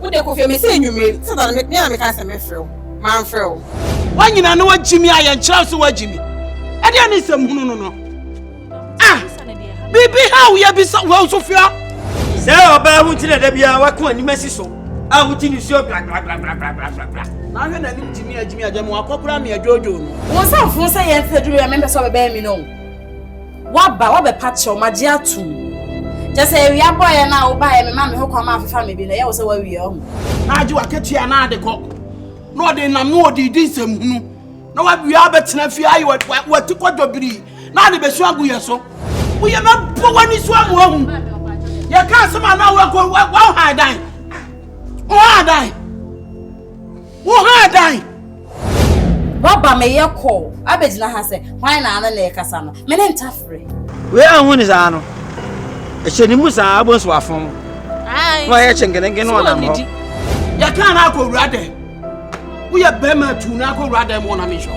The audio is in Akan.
Wo de kɔ fie me sɛ anwummere satan me a meka sɛ mɛfrɛ wo mamfrɛ wo. Woanyina na woagyi me a yɛnkyerɛw sɛ woagyi me. Ɛdeɛ ne nsɛm hunu no no. Ah! Biribi ha woyɛ bi sɛ wɔn so fia. Sɛ ɔbaa ho nti na da biara wako anim asi so a wogye ne suo blablablablabla. Na ahwɛ n'anim gyimi agyimi agya mu akɔkora me adwoodwoo no. Wɔn nsa mfoo sɛ yɛn fɛ duru yɛ mempɛ sɛ ɔbɛbɛn me no. Woaba, woabɛpa kyɛw, magye atom. Kyerɛ sɛ awia bɔeɛ no a wobaeɛ no maa me ho kwan ma afefa me bi no, ɛyɛ wo sɛ woawie ɔho. Na agye w'akatua na ade kɔ. Na ɔde nam na ɔde di nsɛm hunu. Na w'awia abɛtena fie ayɛ w'ati kɔ dɔbirii na ade bɛsu agu yɛ so. Woyɛ mɛbɔ w'ani so ama wahu. Yɛka asɛm a na woakɔ woahan dan. Wohan dan. Wo ha dan. Waba me yɛ kɔɔ abɛgyina ha sɛ hwan na ano na ɛkasa no me ne ntafere. Wei anhu ne saa no ɛhyɛ ne mu saa abɔ nso wafɔn mu na ɔyɛ kyenkenenken na ɔnam hɔ. Yɛka no akɔ wura dɛ woyɛ bɛrima tu no akɔ wura dɛ mu ɔnam nhyɛ.